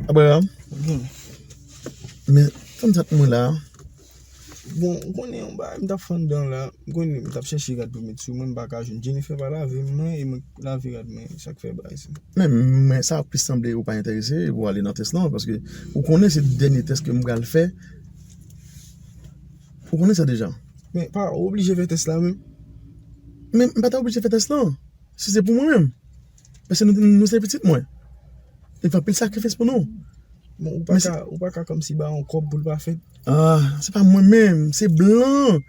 Abraham Men Fanm sa t mwen la Bon ou konnen yon bagay m tap fann dan la M konnen m tap chèche rad pou m met sou mwen m paka jwenn Jennifer pa lave mwen e mwen k lave rad mwen sa k fè bagay sa Men sa plis sanble ou pa enterese pou ale nan tès lan paske ou konnen se dènye tès ke m pral fè Ou konnen sa deja Men pa ou oblije fè tès la menm Men m pa ta oblije fè tès lan. Si se pou mwen menm, paske nou se pitit mwen, li fè anpil sakrifis pou nou. Bon, ou pa ka kòmsi ba yon kòb pou l pa fèt? Ah, se pa mwen menm, se blan.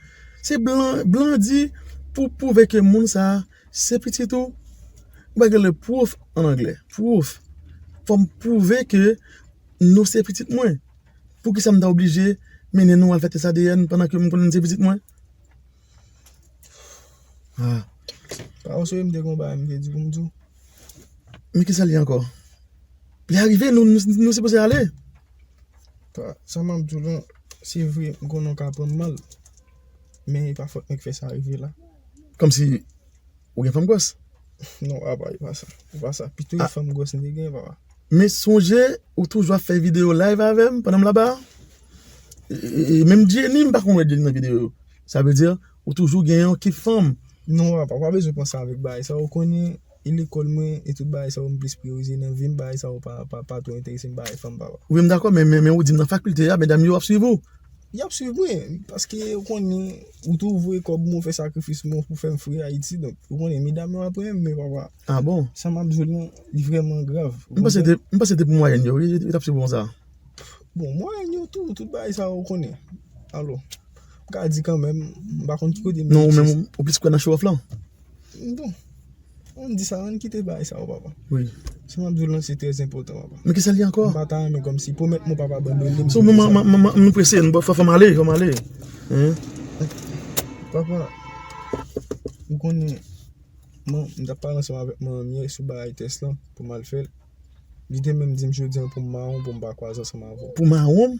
Se blan, blan di pou pwouve ke moun sa a se pitit ou, ou pa gen le proof an anglè, proof. Fò m pwouve ke nou se pitit mwen. Poukisa m ta oblije mennen nou al fè tès ADN pandan ke m konnen nou se pitit mwen? Haa Pa ou swe m te gen yon bagay m te di pou m di w Men kisa l ye ankò Li arive nou sipoze ale Pa sa map di w lan se vre m konnen w ka pran m mal Men e pa fòt mwen ki fè sa rive la Kòmsi Ou gen fanm gwòs? Non papa e pa sa. E pa sa. Pito e fanm gwòs m te gen papa. Men sonje ou toujou ap fè videyo live avè m pandan m laba a. E menm Jenny m pa konn wè Jenny nan videyo yo. Sa vle di ou toujou gen yon kip fanm. Non papa ou pa bezwen panse avèk bagay sa yo. Ou konnen e lekòl mwen e tout bagay sa yo m plis priyorize nan vi m. Bagay sa yo pa twò enterese m bagay fanm papa. Wi m dakò men ou di m nan fakilte a medam yo ap swiv ou. Yap swiv mwen, paske yo konnen ou tou vwe kòb mwen fè sakrifis mwen pou fèm fre Ayiti, donk yo konnen medam yo apre m men papa. Ah bon? Sa map di w lan li vrèman grav. M panse te, m panse te pou mwayèn yo wi yo tap swiv w konsa. Bon, mwayèn yo tou, tout bagay sa ou konnen. Alò, m ka di kanmenm, m pa konn ki kote men. Non ou menm ou plis kwè nan show off lan? Bon. An di sa, an kite bagay sa yo papa. Wi. Sa map diw lan se trè enpòtan papa. Men kisa li ankò? M pa ta renmen kòmsi pwomèt mwen papa abandone m. Sou m m m m prese m fò m ale fò m ale. Papa ou konnen man m tap pale ansanm avèk manmie sou bagay tès lan pou mal fèl. Li te menm dim jodi an pou m maron pou m pa kwaze ansanm avè w. Pou maron m?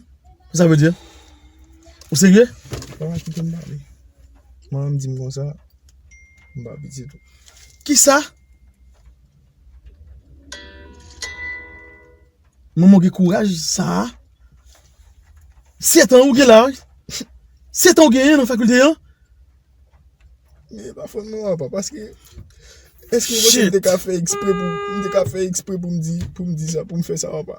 Sa vle di? Ou serye? Papa kite m pale. Manman m dim konsa. M pa pitit ou. Kisa? Manman w gen kouraj sa a? Setan ou gen la wi. Setan ou genyen nan fakilte an? Mwen pa fon non apa paske eske ou panse m te ka fè ekspre pou m te ka fè ekspre pou m di pou m di sa pou m fè sa apa?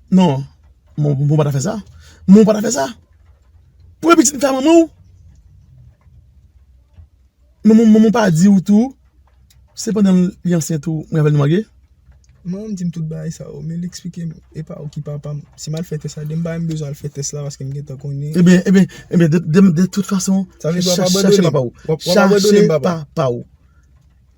Non, moun pa ta fè sa. Moun pa ta fè sa. Premye pitit m fè a manman w. Manman w pa di w tou, se pandan li ansent ou, mwen avè l nou marye? Manman m di m tout bagay sa yo, men li eksplike m, e pa ou ki papa m. Si m al fè tès la, depi m pa menm bezwen al fè tès la paske m gen tan konnen. E ben, e ben, e ben, de tout fason, chache papa w. Chache papa w.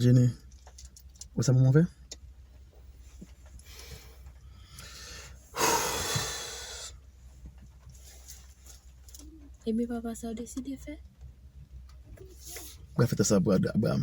Jenny wè sa manman fè Ebyen papa sa ou deside fè? Mwen fè tès la pou Abraham.